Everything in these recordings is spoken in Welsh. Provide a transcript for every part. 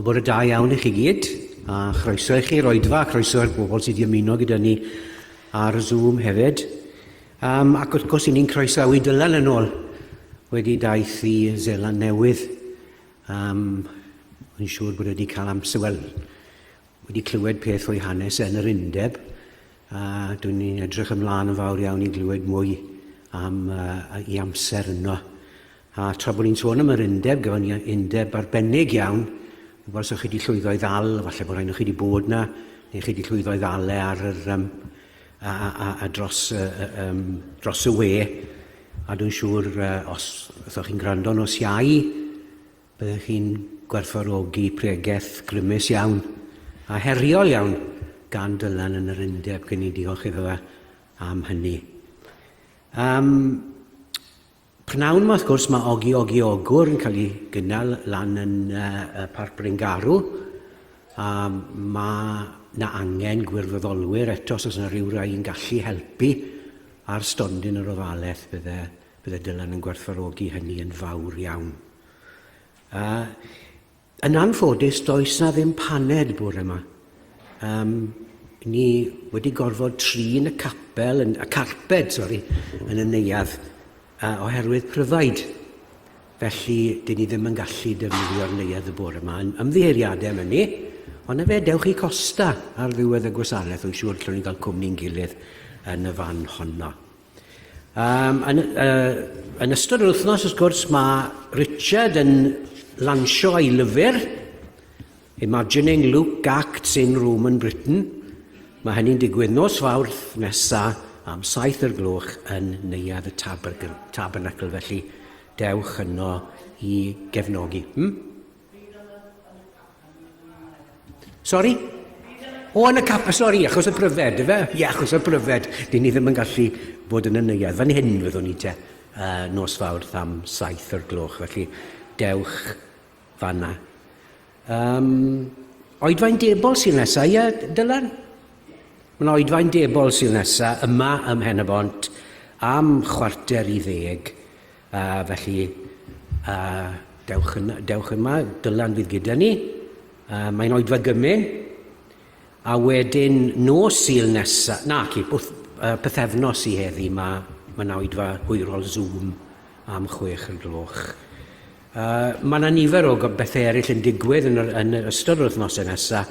O bod y da iawn i chi gyd, a chroeso i chi roedfa, chroeso i'r bobl sydd wedi ymuno gyda ni ar Zoom hefyd. Um, ac wrth gwrs, i ni'n croesawu Dylan yn ôl wedi daith i Zeland Newydd. Um, Wy'n siŵr bod wedi cael amser, wel, wedi clywed peth o'i hanes yn yr undeb a dwi'n ni'n edrych ymlaen yn fawr iawn i glywed mwy am uh, i amser yno. A tra bod ni'n sôn am yr undeb, gyda ni undeb arbennig iawn, fel sa'ch chi wedi llwyddo i ddal, falle bod rhaid chi wedi bod na, neu chi wedi llwyddo i ddal e ar yr, um, a, a, a, a dros, uh, um, dros y we, a dwi'n siŵr uh, os ydych chi'n gwrando nos iau, Byddech chi'n gwerthfawrogi pregeth grymus iawn a heriol iawn gan Dylan yn yr Undeb, cyn i diolch iddo fe am hynny. Um, Pnawn yma, wrth gwrs, mae Ogi Ogi Ogwr yn cael ei gynnal lan yn uh, Parc Bryngarw, a mae na angen gwirfoddolwyr eto os oes yna rhyw rai yn gallu helpu ar stondin yr ofalaeth bydde Bydde Dylan yn gwerthfawrogi hynny yn fawr iawn. A yn anffodus, does na ddim paned bore yma. Um, ni wedi gorfod trin y capel, yn, y carped, sori, yn y neuadd, a oherwydd pryfaid. Felly, dyn ni ddim yn gallu defnyddio'r neuadd y bore yma. Ymddiheiriadau am hynny, ond efe dewch i costa ar ddiwedd y gwasanaeth, yn siŵr lle ni'n cael cwmni'n gilydd yn y fan honno. Um, yn, uh, yn ystod yr wythnos, wrth gwrs, mae Richard yn lansio ei lyfr, Imagining Luke Acts in Roman Britain. Mae hynny'n digwydd nos fawrth nesa am saith o'r gloch yn Neuadd y Tabernacle, felly dewch yno i gefnogi. Hmm? Sori? O, yn y cap, sori, achos y pryfed, efe? Ie, achos y pryfed. Dyn ni ddim yn gallu bod yn y neuadd. Fan hyn fyddwn ni te, uh, nos fawr tham saith o'r gloch, felly dewch fanna. Um, oedfain debol sy'n nesaf, ie, Dylan? Mae'n oedfain debol sy'n nesaf, yma ym Mhen y Bont, am chwarter i ddeg. A felly, a dewch, yn, dewch yma, Dylan fydd gyda ni. A mae'n oedfa gymyn. A wedyn nos Sul nesaf, na ci, wrth uh, pythefnos i heddi, mae ma na oedfa hwyrol Zoom am chwech y gloch. Uh, mae yna nifer o bethau eraill yn digwydd yn, yr, yn ystod yr wythnosau nesaf,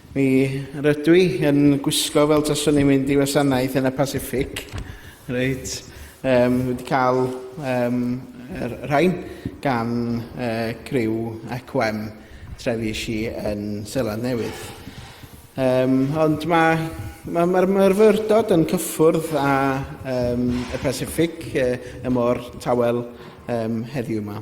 Mi rydw i yn gwisgo fel taswn i'n mynd i wasanaeth yn y Pacific. Reit, um, wedi cael um, yr rhain gan uh, criw ECWM trefi si yn Seland Newydd. Um, ond mae Mae'r ma, ma myrfyrdod yn cyffwrdd â um, y Pacific, uh, y môr tawel um, heddiw yma.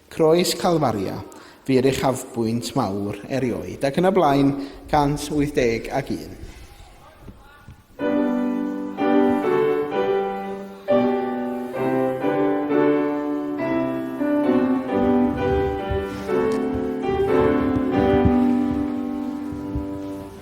Croes Calfaria fu'r uchafbwynt mawr erioed, ac yn y blaen 181.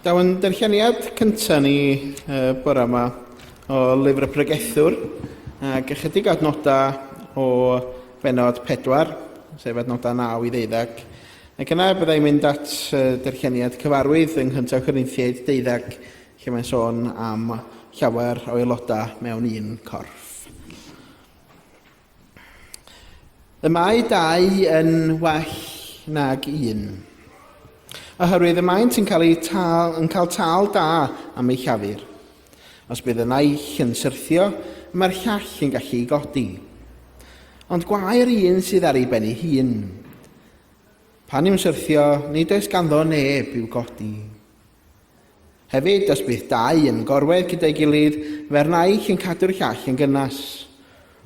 Daw yn darlleniad cyntaf ni uh, bore yma o lyfr y pregethwr ac ychydig adnodau o benod 4, sef adnodau 9 i ddeuddag. Ac yna byddai mynd at uh, darlleniad cyfarwydd yng Nghyntaf Corinthiaid deuddag lle mae'n sôn am llawer o aelodau mewn un corff. Y mae dau yn well nag un. Oherwydd y maent yn cael, eu tal, yn cael tal da am eu llafur. Os bydd y naill yn syrthio, y mae'r llall yn gallu ei godi. Ond gwair un sydd ar ei ben ei hun. Pan yw'n syrthio, nid oes ganddo neb i'w godi. Hefyd, os bydd dau yn gorwedd gyda'i gilydd, fe'r naill yn cadw'r llall yn gynnas.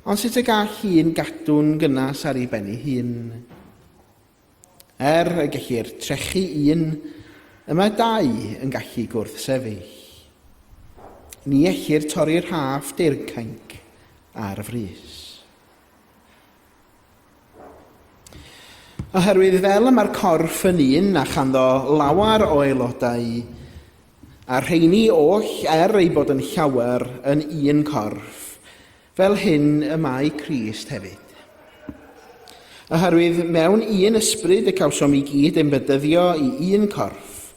Ond sut y gall un gadw'n gynnas ar ei ben ei hun? Er y gellir trechu un, y mae dau yn gallu gwrthsefyll. Ni ellir torri'r rhaff deircainc ar frys. Oherwydd fel y mae'r corff yn un a chanddo lawer o aelodau, a rheini oll er ei bod yn llawer yn un corff, fel hyn y mae Crist hefyd. Oherwydd mewn un ysbryd y cawsom i gyd ein bedyddio i un corff,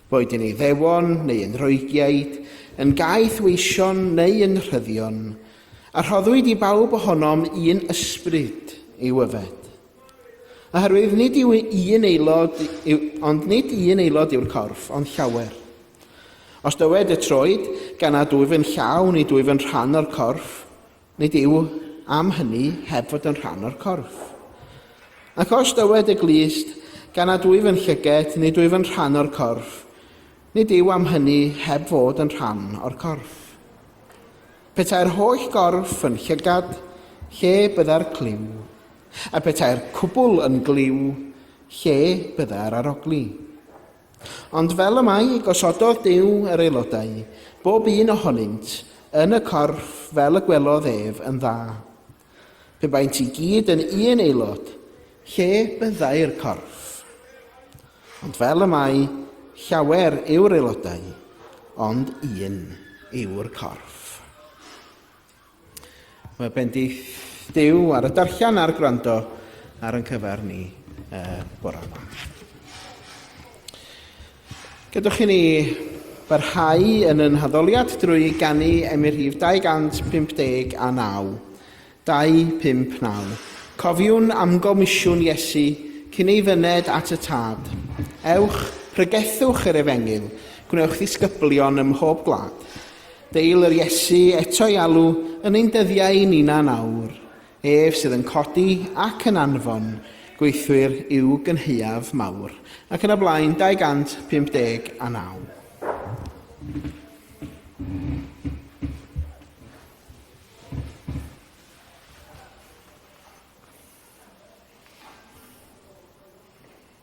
boed yn Iddewon neu yn Roegiaid, yn gaeth weision neu yn rhyddion, A rhoddwyd i bawb ohonom un ysbryd i'w yfed. Oherwydd nid yw un aelod, yw, ond nid un aelod yw'r corff, ond llawer. Os dywed y troed, gan nad wyf yn llaw, nid wyf yn rhan o'r corff, nid yw am hynny heb fod yn rhan o'r corff. Ac os dywed y glust, gan nad wyf yn llyged, nid wyf yn rhan o'r corff, nid yw am hynny heb fod yn rhan o'r corff. Petai'r holl gorff yn llygad, lle bydda'r clyw? A petai'r cwbl yn glyw, lle bydda'r arogli? Ond fel y mae, gosododd Duw yr aelodau, bob un ohonynt, yn y corff fel y gwelodd ef yn dda. Pe baent i gyd yn un aelod, lle byddai'r corff? Ond fel y mae, llawer yw'r aelodau, ond un yw'r corff. Mae bendith Dyw ar y darllen a'r gwrando ar yn cyfer ni uh, bore yma. Gadewch i ni barhau yn y naddoliad drwy ganu am y rhif 259, 259. Cofiwn am gomisiwn Iesu cyn ei fyned at y Tad. Ewch, pregethwch yr Efengyl, gwnewch ddisgyblion ym mhob gwlad. Deil yr Iesu eto'i alw yn ein dyddiau ninnau nawr. Ef sydd yn codi ac yn anfon gweithwyr i'w gynhaeaf mawr, ac yn y blaen 259.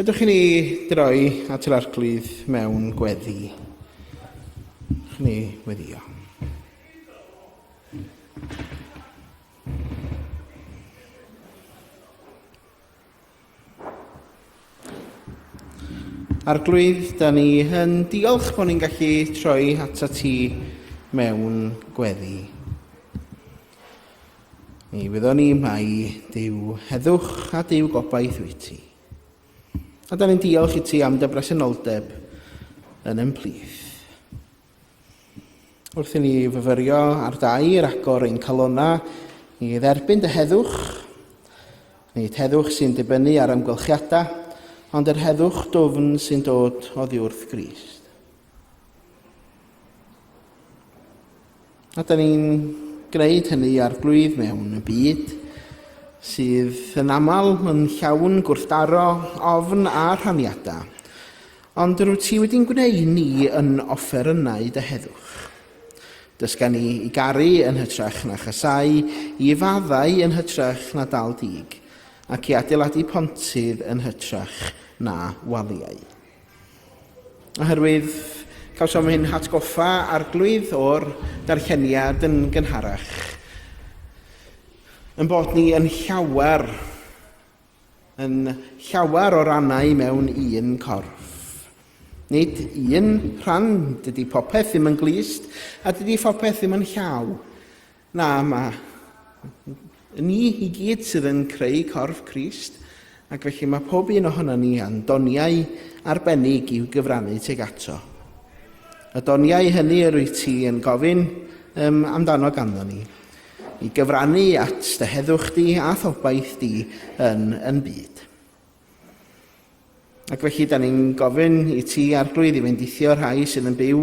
Gadewch i ni droi at yr arglwydd mewn gweddi. Chni weddio. Arglwydd, da ni yn diolch bod ni'n gallu troi ato ti mewn gweddi. Ni fyddwn ni mai Dyw heddwch a Dyw gobaith wyt ti. A da ni'n diolch i ti am dy bresenoldeb yn ymplith. Wrth i ni fyfyrio ar dair agor ein calonau i dderbyn dy heddwch, nid heddwch sy'n dibynnu ar amgylchiadau, ond yr heddwch dwfn sy'n dod oddiwrth Grist. A da ni'n gwneud hynny arglwydd mewn y byd sydd yn aml yn llawn gwrthdaro, ofn a rhaniadau. Ond rwyt ti wedi'n gwneud ni yn offerynnau dy heddwch. Dysga ni i garu yn hytrach na chasau, i faddau yn hytrach na dal dig, ac i adeiladu pontydd yn hytrach na waliau. Oherwydd cawsom ein hatgoffa arglwydd o'r darlleniad yn gynharach, yn bod ni yn llawer, yn llawer o rannau mewn un corff. Nid un rhan, dydy popeth ddim yn glust, a dydy phopeth ddim yn llaw. Na, mae ni i gyd sydd yn creu corff Crist, ac felly mae pob un ohono ni yn doniau arbennig i'w gyfrannu teg ato. Y doniau hynny yr wyt ti yn gofyn um, amdano ganddo ni, i gyfrannu at dy heddwch di a thobaith di yn yn byd. Ac felly, da ni'n gofyn i ti, Arglwydd, i fendithio rhai sydd yn byw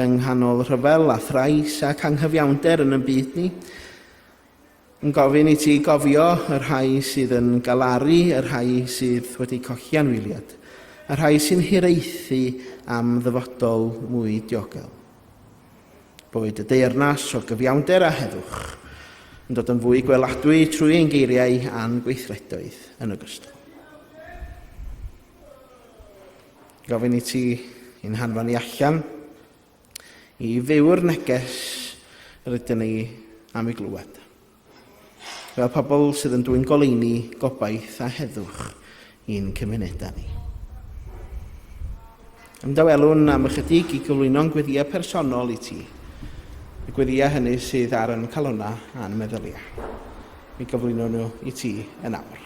yng nghanol rhyfel a thrais ac anghyfiawnder yn y byd ni. Yn gofyn i ti gofio y rhai sydd yn galaru, y rhai sydd wedi colli anwyliad, y rhai sy'n hiraethu am ddyfodol mwy diogel. Boed y deyrnas o gyfiawnder a heddwch yn dod yn fwy gweladwy trwy ein geiriau a'n gweithredoedd yn ogystal. Gofyn i ti i'n hanfon ni allan i fyw'r neges rydyn ni am ei glywed. Fel pobl sydd yn dwyn goleuni, gobaith a heddwch i'n cymunedau ni. Ymdawelwn am ychydig i gyflwyno'n gweddiau personol i ti, y gweddiau hynny sydd ar yn calonau a'n meddyliau. Mi gyflwyno nhw i ti yn awr.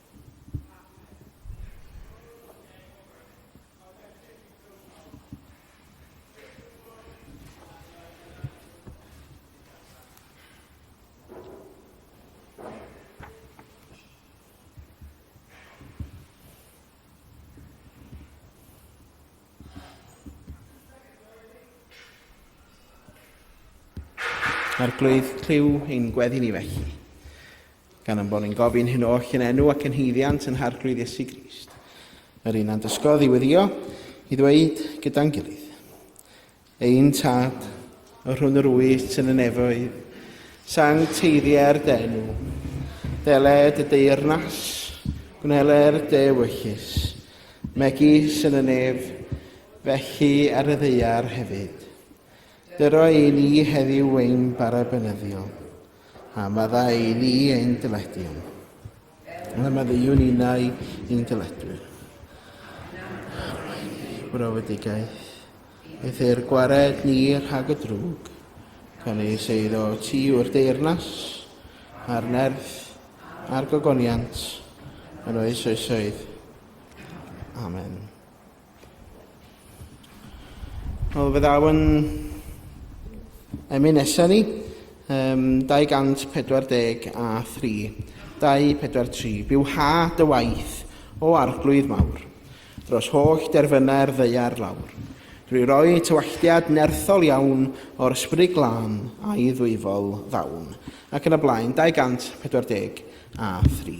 Arglwydd, clyw ein gweddi ni felly. Gan ein bod ni'n gofyn hyn oll yn enw ac yn hyddiant yn harglwydd Iesu Grist, yr un a'n dysgodd i weddio, i ddweud gyda'n gilydd. Ein tad, yr hwn yr wyt yn y nefoedd, sang teiriau'r denw, deled y deyrnas, gwneler de wyllus, megis yn y nef, felly ar y ddeiar hefyd. Dyro i ni heddiw ein bara benyddiol. A meddai i ni ein dyledion. A meddyliwn innau i'n dyledwyr. Brofedigaeth. Beth i'r gwared ni rhag y drwg. Gan ei seiddo ti yw'r deyrnas, a'r nerth, a'r gogoniant, yn oes oesoedd. Amen. Wel, fe ddaw yn emyn nesaf ni, um, 240 a 3, 243. Byw ha dy waith, o arglwydd mawr, dros holl derfynau'r ddeiar lawr, drwy roi tywalltiad nerthol iawn o'r ysbryd glân a'i ddwyfol ddawn, ac yn y blaen 240 a 3.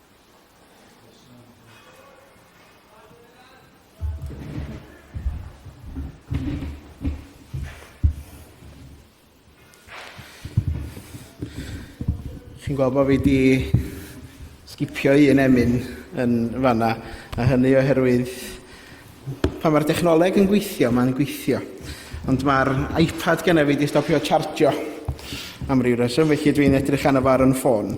Chi'n gweld bod fi wedi sgipio un emyn yn fanna, a hynny oherwydd Pan mae'r dechnoleg yn gweithio, mae'n gweithio. Ond mae'r iPad gen i fi wedi stopio chargio am ryw reswm, felly dwi'n edrych arno fo ar yn ffôn.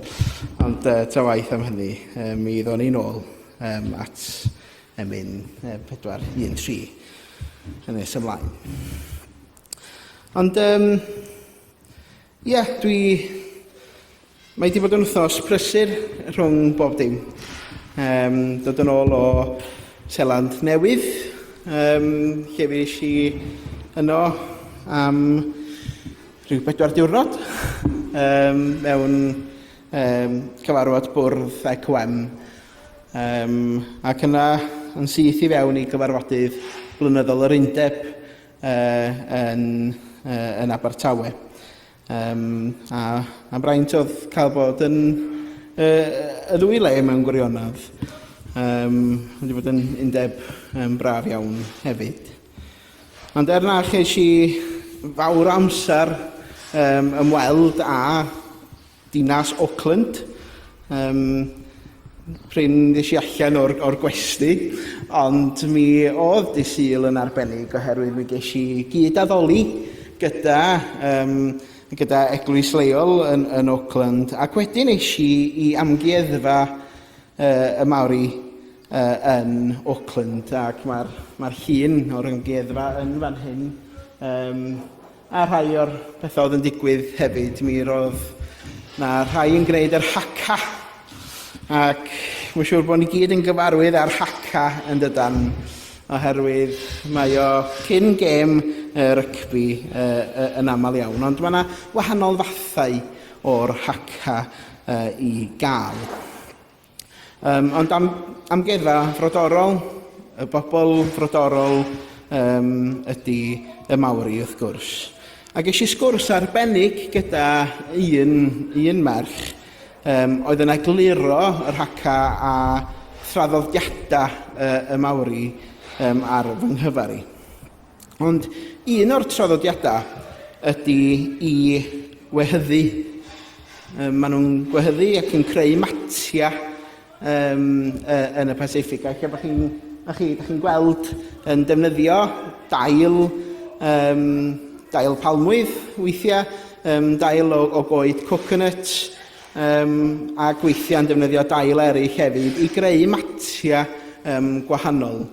Ond uh, ta waith am hynny, uh, mi ddod ni'n ôl um, at emyn uh, 413 yn nes ymlaen. Ond um, Ie, dwi... Mae wedi bod yn wythnos prysur rhwng bob dim. Um, dod yn ôl o Seland Newydd, um, lle fi eisiau i yno am rhyw bedwar diwrnod um, mewn um, cyfarfod bwrdd ECOM. Um, ac yna yn syth i fewn i gyfarfodydd blynyddol yr undeb yn, yn Abertawe. Um, a mae'n braint oedd cael bod yn uh, y ddwy le mewn gwirionedd. Um, wedi bod yn undeb um, braf iawn hefyd. Ond er na cheis i fawr amser um, ymweld â Dinas Auckland, yym, prin ddes i allan o'r o'r gwesty, ond mi oedd dydd Sul yn arbennig oherwydd mi ges i gyd-addoli gyda yym gyda eglwys leol yn yn Auckland ac wedyn es i i amgueddfa yy y Māori yy yn Auckland ac mae'r mae'r llun o'r amgueddfa yn fan hyn yym A rhai o'r pethau oedd yn digwydd hefyd, mi roedd na rhai yn gwneud yr Haka, ac mae'n siŵr bod ni gyd yn gyfarwydd â'r Haka yn dydan, oherwydd mae o cyn gêm y rygbi e, e, yn aml iawn, ond mae yna wahanol fathau o'r Haka e, i gael. Um, ond am, amgueddfa frodorol, y bobl frodorol um, ydy y Maori wrth gwrs. A ges i sgwrs arbennig gyda un, un merch um, oedd yn egluro yr haca a thraddodiadau uh, y Maori um, ar fy nghyfar i. Ond un o'r traddodiadau ydy i wehyddu. Um, maen nhw'n gwehyddu ac yn creu matia um, yn y Pacific. Ac bod chi'n chi, chi gweld yn defnyddio dail, um, dail palmwydd weithiau, um, dail o, o goed coconut, um, a gweithiau yn defnyddio dail eraill hefyd i greu matia um, gwahanol.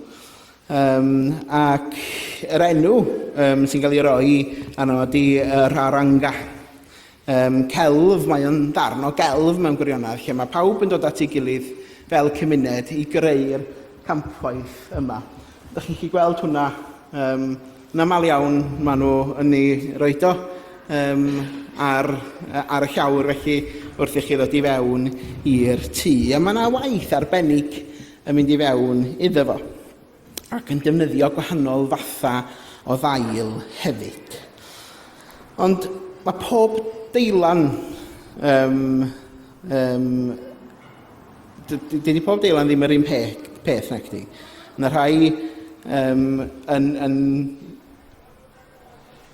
Yym, ac yr enw um, sy'n cael ei roi arno ydy uh, Rharanga. Um, celf, mae o'n ddarn o gelf mewn gwirionedd, lle mae pawb yn dod at ei gilydd fel cymuned i greu'r campwaith yma. Ydych chi'n chi gweld hwnna? Um, yn aml iawn maen nhw yn ei roed o um, ar, ar y llawr felly wrth i chi ddod i fewn i'r tŷ. A mae yna waith arbennig yn mynd i fewn iddo fo ac yn defnyddio gwahanol fathau o ddail hefyd. Ond mae pob deilan, um, um, dydy pob deilan ddim yr un peth, peth na chdi. Mae rhai um, yn, yn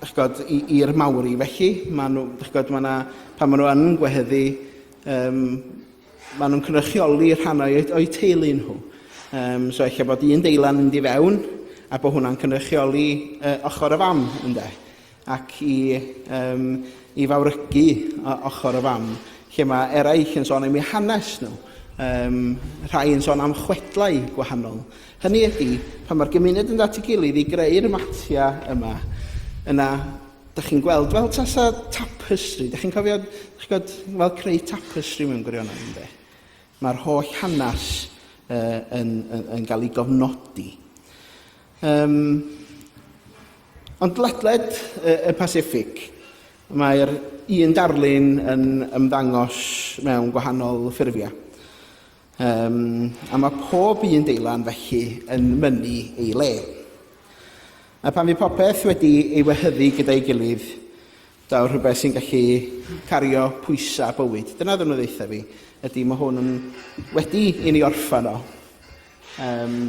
chgod, i'r mawri, felly mae nhw, chgod, mae yna, pan maen nhw yn gwehyddu um, Maen nhw'n cynrychioli rhannau o'u teulu nhw. Um, so eich bod un deilan mynd i fewn a bod hwnna'n cynrychioli uh, ochr y fam, ynde? Ac i, um, i fawrygu ochr y fam, lle mae eraill yn sôn am eu hanes nhw. Um, rhai yn sôn am chwedlau gwahanol. Hynny ydy, pan mae'r gymuned yn dati gilydd i greu'r matia yma, yna Dach chi'n gweld, fel tasa tapestri, dach chi'n cofio, dach chi'n gweld, fel creu tapestri mewn gwirionedd, ynddo? Mae'r holl hanes uh, yn, yn, yn cael ei gofnodi. Um, ond ledled y, y Pacific, mae'r un darlun yn ymddangos mewn gwahanol ffurfiau. Um, a mae pob un deilan felly yn mynnu ei le. A pan fi popeth wedi ei wehyddu gyda'i gilydd, daw rhywbeth sy'n gallu cario pwysau bywyd. Dyna ddyn nhw ddeitha fi, ydy mae hwn yn wedi i ni orffan o. Um,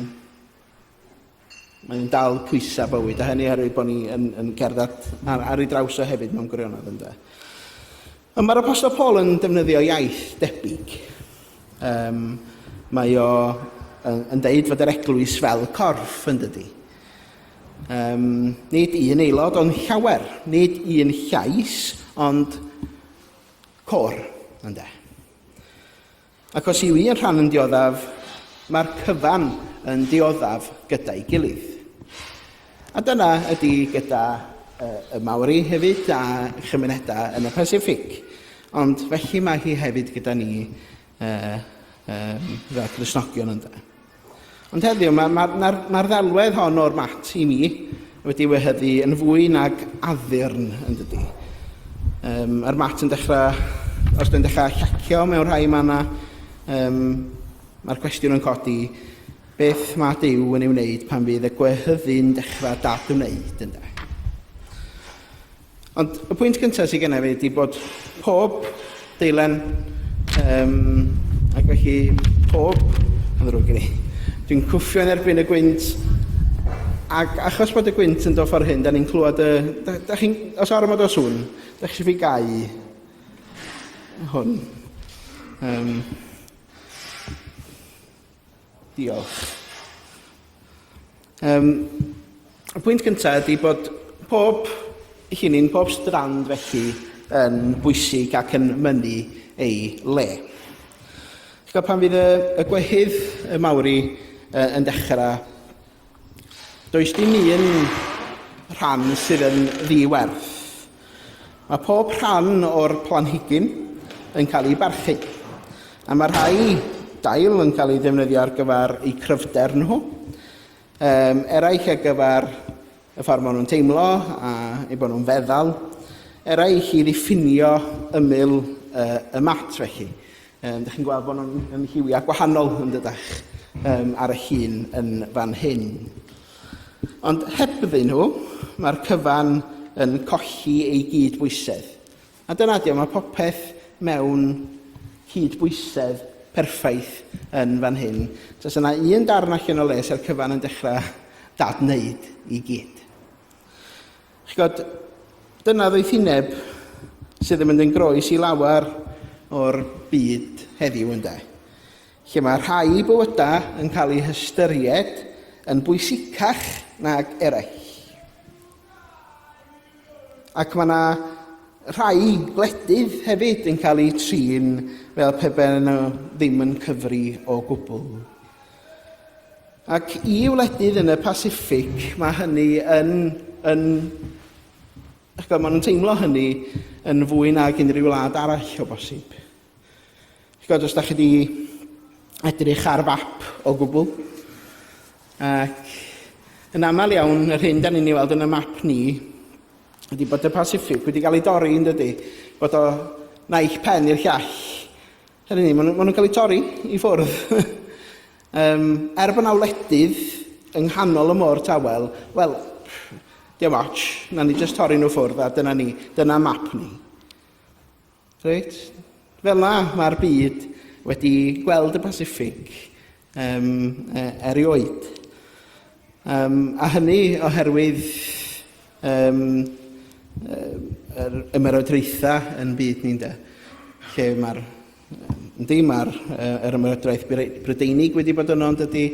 Mae o'n dal pwysau bywyd a hynny oherwydd bod ni yn, yn cerdded ar, ar ei draws o hefyd mewn gwirionedd ynde. Ond mae'r Apostol Paul yn defnyddio iaith debyg. Um, mae o yn, yn deud fod yr eglwys fel corff yn dydy. Um, nid un aelod ond llawer, nid un llais ond cor ynde. Ac os yw un rhan yn dioddaf, mae'r cyfan yn dioddaf gyda'i gilydd. A dyna ydy gyda y Maori hefyd a chymunedau yn y Pasiffic. Ond felly mae hi hefyd gyda ni fel Cristnogion ynde. Ond heddiw, mae'r ma, ma, ma ddelwedd hon o'r mat i mi wedi wehyddu yn fwy nag addurn yn dydy. Um, yr mat yn dechrau, os dyn dechrau llacio mewn rhai manna, um, mae'r cwestiwn yn codi, beth mae Dyw yn ei wneud pan fydd y gwehyddu'n dechrau dadwneud ynddo? Ond y pwynt gyntaf sydd gennyf fi ydy bod pob deilen, um, ac felly pob, yn ddrwg gen i, dwi'n cwffio yn erbyn y gwynt, ac achos bod y gwynt yn dod ffordd hyn, da ni'n clywed y... Da, da chi'n, os ormod o sŵn, da chi eisiau fi gau hwn. Um, Diolch. Um, y pwynt gyntaf ydy bod pob llinyn, pob strand felly yn bwysig ac yn mynnu ei le. Chi'n pan fydd y, y gwehydd y mawr i uh, yn dechrau Does dim un rhan sydd yn ddi-werth. Mae pob rhan o'r planhigyn yn cael ei barchu, a mae rhai dail yn cael ei ddefnyddio ar gyfer eu cryfder nhw, um, eraill ar gyfer y ffordd maen nhw'n teimlo a ei bod nhw'n feddal, eraill i ddiffinio ymyl uh, y mat felly. Yym, dych chi'n gweld bod nhw'n yn hiwiau gwahanol, yn dydach, um, ar y hun yn fan hyn. Ond hebddyn nhw, mae'r cyfan yn colli ei gyd bwysedd. A dyna di, mae popeth mewn cyd bwysedd perffaith yn fan hyn. Os yna un darn allan o les a'r cyfan yn dechrau dad wneud i gyd. Chi'n gwybod, dyna ddoethineb sydd yn mynd yn groes i lawer o'r byd heddiw ynde, lle mae rhai bywydau yn cael eu hystyried yn bwysicach nag eraill. Ac mae yna rhai gwledydd hefyd yn cael eu trin fel pe baen nhw ddim yn cyfri o gwbl. Ac i wledydd yn y Pasiffic, mae hynny yn, yn ac maen nhw'n teimlo hynny yn fwy nag unrhyw wlad arall o bosib. Chod, os da chi wedi edrych ar fap o gwbl, ac yn aml iawn, yr hyn da ni'n ei weld yn y map ni, ydy bod y Pasiffic wedi cael ei dorri yn dydy, bod o naill pen i'r llall, Hynny ni, maen nhw'n cael eu torri i ffwrdd. um, er bod yna wledydd yng nghanol y môr tawel, wel, diolch much, na ni jyst torri nhw ffwrdd a dyna ni, dyna map ni. Reit? Fel na, mae'r byd wedi gweld y Pacific um, e, erioed. Um, a hynny oherwydd um, yr ymerodraethau yn byd ni'n de, lle mae'r Yndi, mae'r er ymerodraeth Brydeinig wedi bod yno, ond ydy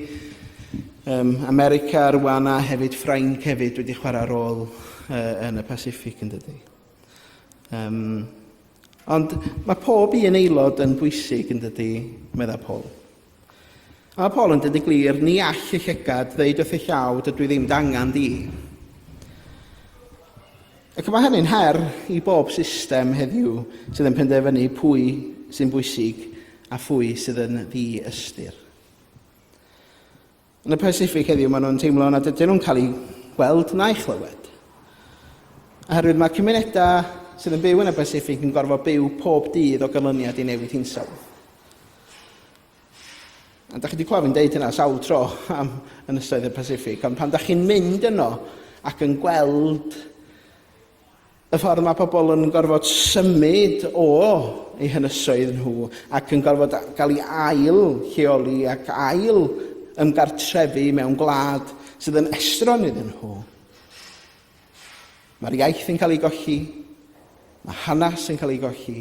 um, America rwan a hefyd Ffrainc hefyd wedi chwarae rôl uh, yn y Pacific yn dydy. Um, ond mae pob un aelod yn bwysig yn dydy, meddai Paul. A Paul yn dweud y glir, ni all y llygad ddeud wrth y llaw, dydw i ddim dangan di. Ac mae hynny'n her i bob system heddiw sydd yn penderfynu pwy sy'n bwysig a phwy sydd yn ddi-ystyr. Yn y Pasiffic heddiw maen nhw'n teimlo nad ydyn nhw'n cael eu gweld na'u chlywed. Oherwydd mae cymunedau sydd yn byw yn y Pasiffic yn gorfod byw pob dydd o ganlyniad i newid hinsawdd. A da chi wedi clywed fi'n deud hynna sawl tro am ynysoedd y Pasiffic, ond pan da chi'n mynd yno ac yn gweld Y ffordd mae pobl yn gorfod symud o eu hynysoedd nhw ac yn gorfod cael ei ail lleoli ac ail ymgartrefu mewn gwlad sydd yn estron iddyn nhw. Mae'r iaith yn cael ei golli, mae hanes yn cael ei golli,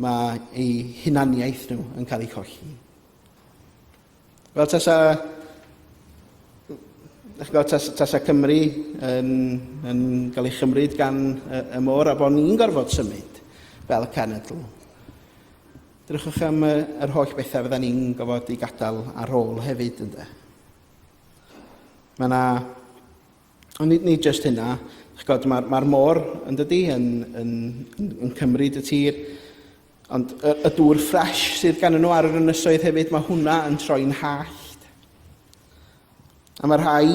mae eu hunaniaeth nhw yn cael ei cholli. Wel, tasa, gwybod, tasa, tasa Cymru yn, yn cael ei chymryd gan y, y môr a bod ni'n gorfod symud fel y cenedl. Drychwch am y, yr holl bethau fydda ni'n gofod i gadael ar ôl hefyd, ynddo. Mae yna... Ond ni, ni just hynna. Mae'r mae, mae môr yn dydy yn, yn, yn, yn cymryd y tir. Ond y, y dŵr ffres sydd gan nhw ar yr ynysoedd hefyd, mae hwnna yn troi'n hallt. A mae rhai,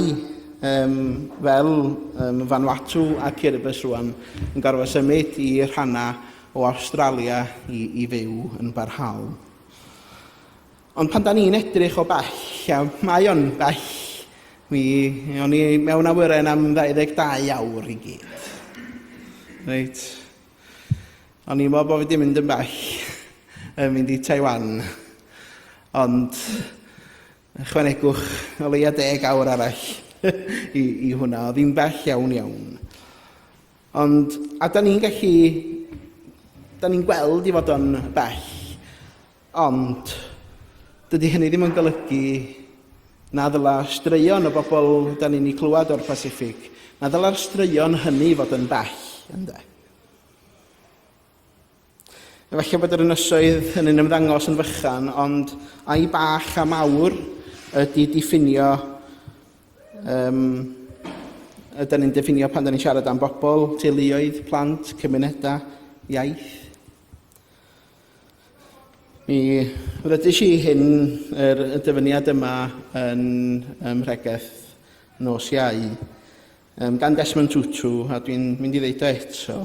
um, fel um, Vanuatu a Kiribus rwan, yn gorfod symud i rhannau o Awstralia i, i fyw yn barhaol. Ond pan da ni'n edrych o bell, a mae o'n bell, mi o'n i mewn awyren am 22 awr i gyd. Reit. O'n i'n meddwl bod fi 'di mynd yn bell yn mynd i Taiwan, ond ychwanegwch o leia deg awr arall i, i hwnna, oedd hi'n bell iawn iawn. Ond, a da ni'n gallu, da ni'n gweld i fod o'n bell, ond dydy hynny ddim yn golygu na ddyla straeon y bobl da ni'n ei clywed o'r Pacific, na ddyla'r straeon hynny fod yn bell, ynddo. Efallai bod yr ynysoedd hynny'n ymddangos yn fychan, ond ai bach a mawr ydy diffinio um, ydy ni'n diffinio pan da ni'n siarad am bobl, teuluoedd, plant, cymunedau, iaith. Mi rydys i hyn, yr, y dyfyniad yma yn ymhregeth nos iau. Um, gan Desmond Tutu, a dwi'n mynd i ddeud o eto,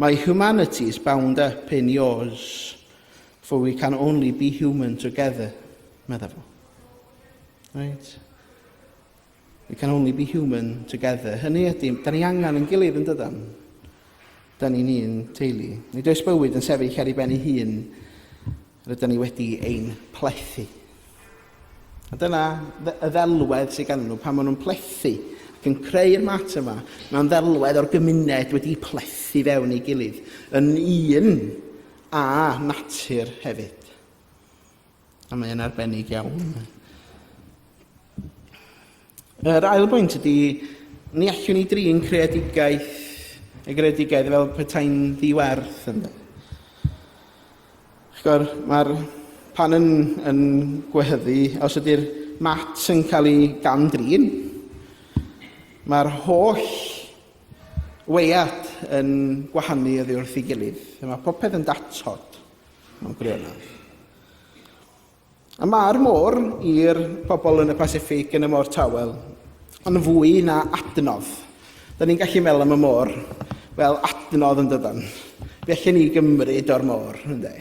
mae humanity is bound up in yours, for we can only be human together, meddwl fo. Right? We can only be human together. Hynny ydy, da ni angen yn gilydd yn dydan. Da ni'n un teulu. Nid oes bywyd yn sefyll ar ei ben ei hun Rydyn ni wedi ein plethu. A dyna y ddelwedd sydd gan nhw pan maen nhw'n plethu ac yn creu'r mat yma. Mae'n ddelwedd o'r gymuned wedi plethu fewn ei gilydd yn un a natur hefyd. A mae'n arbennig iawn. Yr ail bwynt ydy, ni allwn ni drin creadigaeth y greadigaeth fel petai'n ddiwerth ynddo. Chigor, mae'r pan yn, yn gwehyddu, os ydy'r mat yn cael ei gam-drin, mae'r holl weiad yn gwahanu oddi wrth ei gilydd. Mae popeth yn datod mewn gwirionedd. A mae'r môr i'r pobl yn y Pasiffic yn y Môr Tawel yn fwy na adnodd. Da ni'n gallu meddwl am y môr fel adnodd yn dydan. Fe allan ni gymryd o'r môr, ynddo.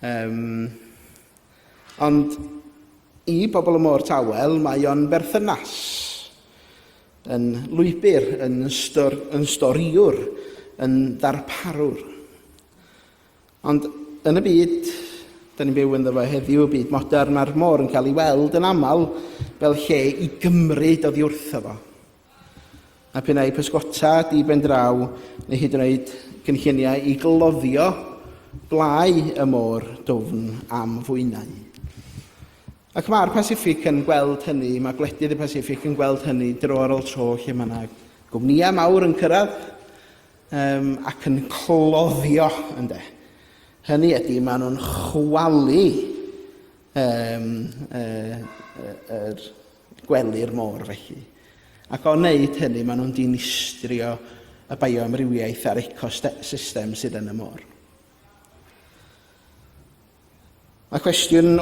Um, ond i bobl y Môr Tawel mae o'n berthynas yn lwybr, yn, stor, yn storiwr, yn ddarparwr. Ond yn y byd dan ni'n byw ynddo fo heddiw, y byd modern, mae'r môr yn cael ei weld yn aml fel lle i gymryd oddi wrtho fo. A p'un ai pysgota di ben draw neu hyd yn oed cynlluniau i gloddio blau y môr dwfn am fwynau. Ac mae'r Pasiffic yn gweld hynny, mae gwledydd y Pasiffic yn gweld hynny dro ar ôl tro lle mae yna gwmnïau mawr yn cyrraedd Yym, ac yn cloddio, ynde. Hynny ydy, maen nhw'n chwalu um, uh, yr gwely'r môr felly. Ac o wneud hynny, maen nhw'n dinistrio y bioamrywiaeth a'r ecosystem sydd yn y môr. Mae cwestiwn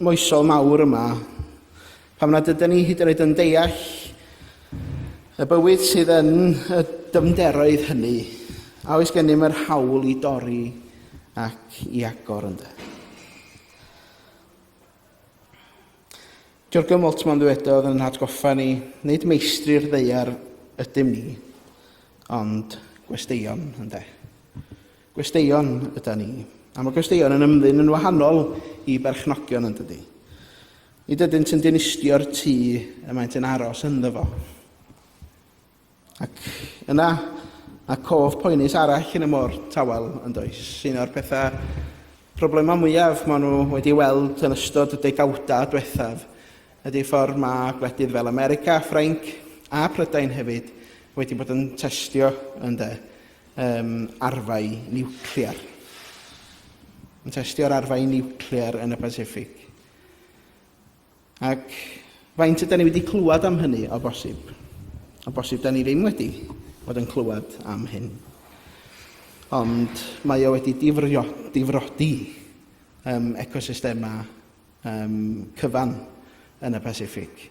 moesol mawr yma, pam nad ydyn ni hyd yn oed yn deall y bywyd sydd yn y dyfnderoedd hynny, a oes gennym yr hawl i dorri ac i agor ynddo. Jürgen Moltmann ddywedodd yn hatgoffa ni, nid meistri'r ddeiar ydym ni, ond gwesteion, ynddo. Gwesteion yda ni. A mae gwesteion yn ymddyn yn wahanol i berchnogion yn dydy. Nid ydynt yn dinistio'r tŷ y maent yn aros ynddo fo. Ac yna, mae cof poenus arall yn y môr tawel yn does. Un o'r pethau problemau mwyaf maen nhw wedi weld yn ystod y degawdau diwethaf ydy ffordd mae gwledydd fel America, Ffrainc a Prydain hefyd wedi bod yn testio yn de, um, arfau niwclear. Yn testio'r arfau niwclear yn y Pacific. Ac faint yda ni wedi clywed am hynny, o bosib? O bosib, da ni ddim wedi bod yn clywed am hyn. Ond mae o wedi difrio, difrodi um, ecosystemau um, cyfan yn y Pasifig,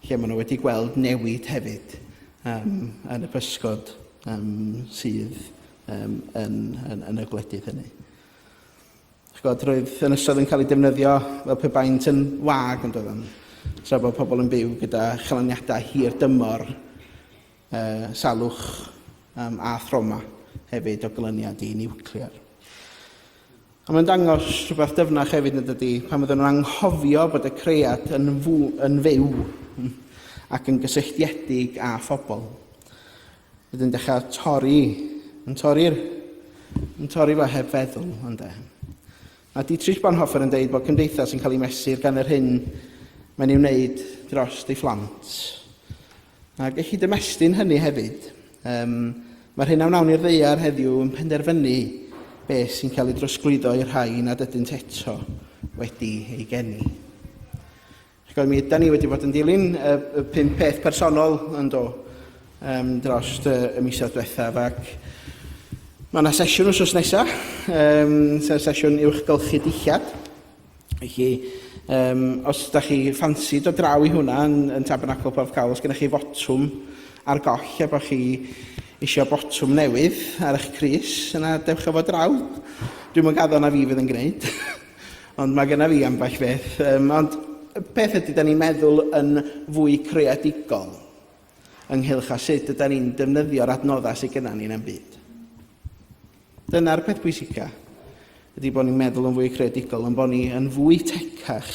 lle maen nhw wedi gweld newid hefyd um, yn y pysgod um, sydd um, yn, yn, yn y gwledydd hynny. Chi'n gwybod, roedd yn ystod yn cael ei defnyddio fel pe baent yn wag, yn doeddwn, tra bod pobl yn byw gyda chaloniadau hir dymor, uh, salwch um, a throma hefyd o glyniad i niwclear. Ond mae'n dangos rhywbeth dyfnach hefyd yn dydy, pan fyddwn nhw'n anghofio bod y cread yn, fw, yn fyw ac yn gysylltiedig â phobl. Bydd yn dechrau torri, yn torri'r, yn torri fo heb feddwl, ond e. Mae Dietrich Bonhoeffer yn dweud bod cymdeithas yn cael ei mesur gan yr hyn mae'n ei wneud dros ei phlant. Ac y cyd-ymestyn hynny hefyd, um, mae'r hyn a wnawn ni'r ddeiar heddiw yn penderfynu beth sy'n cael ei drosglwyddo i'r rhai nad ydynt eto wedi ei geni. Chibod, mi yda ni wedi bod yn dilyn y, y pum peth personol yn do um, dros y, y misoedd diwethaf ac mae yna sesiwn wrth nesaf, um, sef sesiwn uwchgylchu dillad. Felly, um, os da chi ffansi do draw i hwnna yn, yn Tabernacl Porth Cawl, os gennych chi fotwm ar goll a bod chi eisiau botwm newydd ar eich Cris, yna dewch efo draw. Dwi'n mwyn gaddo na fi fydd yn gwneud. Ond mae genna fi ambell beth. Um, ond beth ydy da ni'n meddwl yn fwy creadigol ynghylch a sut ydy ni'n defnyddio'r adnoddau sydd genna ni yn byd? Dyna'r peth pwysica, ydy bod ni'n meddwl yn fwy creadigol, yn bod ni yn fwy tecach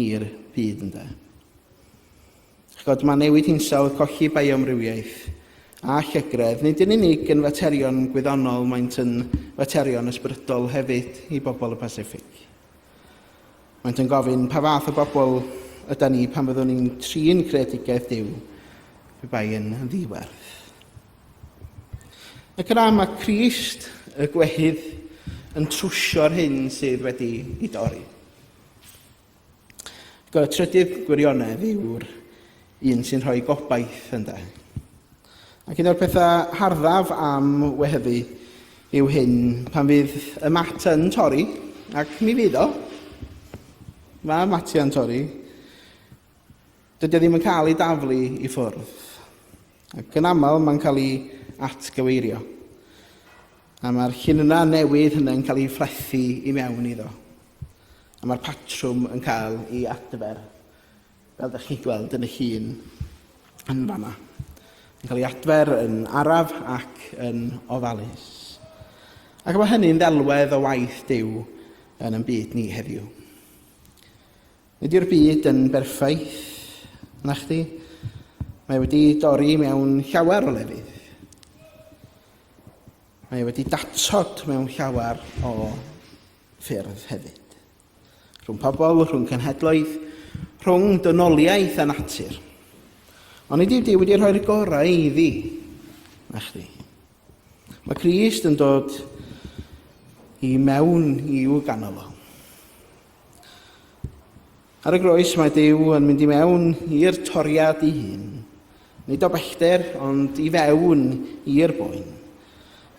i'r byd ynda. Chibod, mae newid hinsawdd, colli bioamrywiaeth a llygredd, nid yn unig yn faterion gwyddonol, maent yn faterion ysbrydol hefyd i bobl y Pasiffic. Maent yn gofyn pa fath o bobl yda ni pan fyddwn ni'n trin creadigaeth Dyw, pe bai yn ddiwerth. Ac yna mae Crist, y gwehydd, yn trwsio'r hyn sydd wedi ei dorri. Ac y trydydd gwirionedd yw'r un sy'n rhoi gobaith, ynddo. Ac un o'r pethau harddaf am wehyddu yw hyn, pan fydd y mat yn torri, ac mi fydd o, mae matiau'n torri, Dydy o ddim yn cael ei daflu i ffwrdd, ac yn aml mae'n cael ei atgyweirio, a mae'r llinynnau newydd hynny'n cael ei frathu i mewn iddo, a mae'r patrwm yn cael ei adfer, fel ydych chi'n gweld yn y llun yn fanna. Yn cael ei adfer yn araf ac yn ofalus. Ac mae hynny'n ddelwedd o waith Duw yn ein byd ni heddiw. Nid yw'r byd yn berffaith, nachdi? Mae wedi dorri mewn llawer o lefydd. Mae wedi datod mewn llawer o ffyrdd hefyd. Rhwng pobl, rhwng cenhedloedd, rhwng dynoliaeth a natur. Ond nid yw Dyw wedi rhoi'r gorau iddi, nachdi? Mae Crist yn dod i mewn i'w ganol o. Ar y groes mae Duw yn mynd i mewn i'r toriad i hun, nid o bellter ond i fewn i'r boen.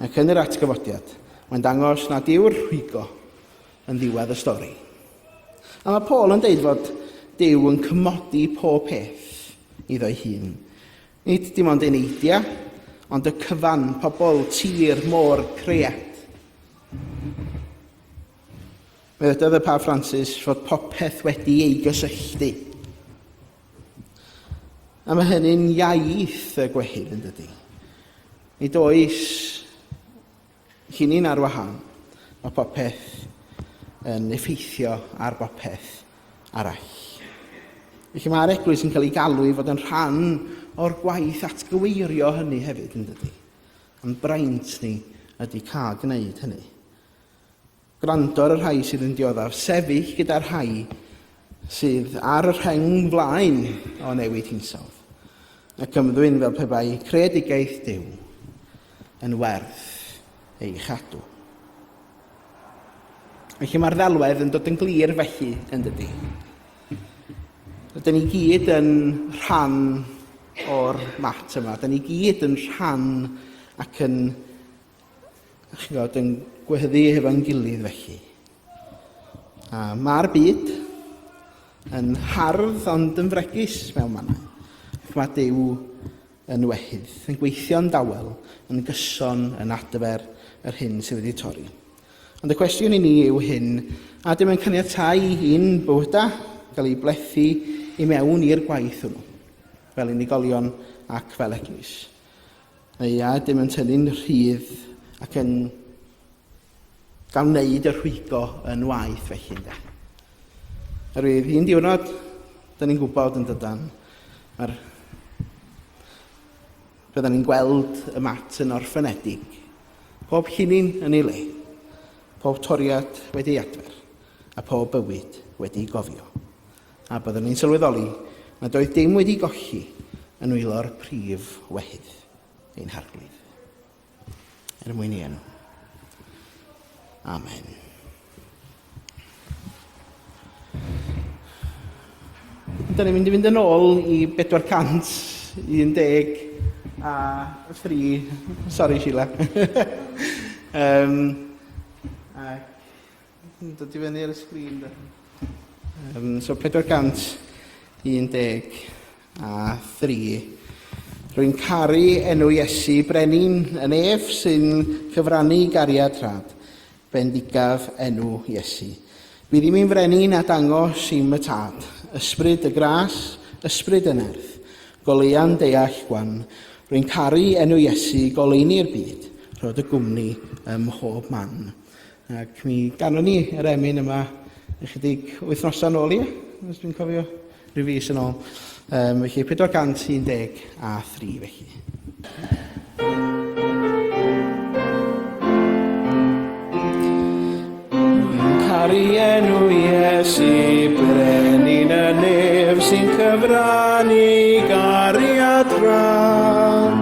Ac yn yr atgyfodiad, mae'n dangos nad yw'r rhwygo yn ddiwedd y stori. A mae Paul yn deud fod Duw yn cymodi pob peth iddo'i hun. Nid dim ond yn eidia, ond y cyfan, pobl, tir, môr, creat. Dywedodd y Pab Francis fod popeth wedi ei gysylltu. A mae hynny'n iaith y gwehyd yn dydy. Ni does chi ni'n ar wahan. Mae popeth yn effeithio ar bopeth arall. Felly mae'r eglwys yn cael ei galw i fod yn rhan o'r gwaith atgyweirio hynny hefyd yn dydy. Am braint ni ydy cael gwneud hynny. Gwrando ar y rhai sydd yn dioddef, sefyll gyda'r rhai sydd ar y rheng flaen o newid hinsawdd, ac ymddwyn fel pe bai creadigaeth Duw yn werth ei chadw. Felly mae'r ddelwedd yn dod yn glir felly, yn dydy. Rydyn ni gyd yn rhan o'r mat yma. Rydyn ni gyd yn rhan ac yn A chi fod yn gwehyddu hefo'n gilydd felly. A mae'r byd yn hardd ond yn fregus mewn mannau. Ac mae Dyw yn wehydd, yn gweithio'n dawel, yn gyson, yn adfer yr hyn sydd wedi torri. Ond y cwestiwn i ni yw hyn, a dim yn caniatau i'n bywyda gael ei blethu i mewn i'r gwaith hwnnw, fel unigolion ac fel eglwys. Ia, dim yn tynnu'n rhydd ac yn gael wneud y rhwygo yn waith felly, ynde. Yr fydd un diwrnod, dyn ni'n gwybod yn dydan, mae'r... Byddwn ni'n gweld y mat yn orffenedig, pob llinyn yn ei le, pob toriad wedi ei adfer, a pob bywyd wedi ei gofio. a byddwn ni'n sylweddoli nad oedd dim wedi golli yn nwylo'r prif wehydd, ein harglwydd. Er mwyn ei enw. Amen. Dyna ni'n mynd i fynd yn ôl i 411 a 3. Sorry, Sheila. um, ac Yn dod i fyny ar y sgrin de. Um, so 411 a 3. Rwy'n caru enw Iesu brenin yn ef sy'n cyfrannu gariad rhad. Bendigaf enw Iesu. Bydd i'n frenin a dangos i'm y tad, ysbryd y gras, ysbryd y nerth, goleuan deall gwan. Rwy'n caru enw Iesu goleuni'r byd, rhod y gwmni ym mhob man. Ac mi ganon ni yr emyn yma ychydig wythnosau nôl i, os dwi'n cofio, rhyw fus yn ôl. Um, felly 410 a 3 felly. Caru enw Iesu, brenin y nef sy'n cyfrannu gariad rhan.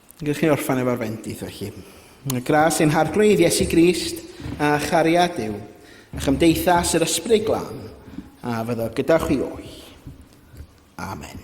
Gallwch chi orffen efo'r fendith felly. Y gras ein harglwydd Iesu Grist a chariad yw, a chymdeithas yr ysbryd glan, a fyddo gyda chwi o'i. Amen.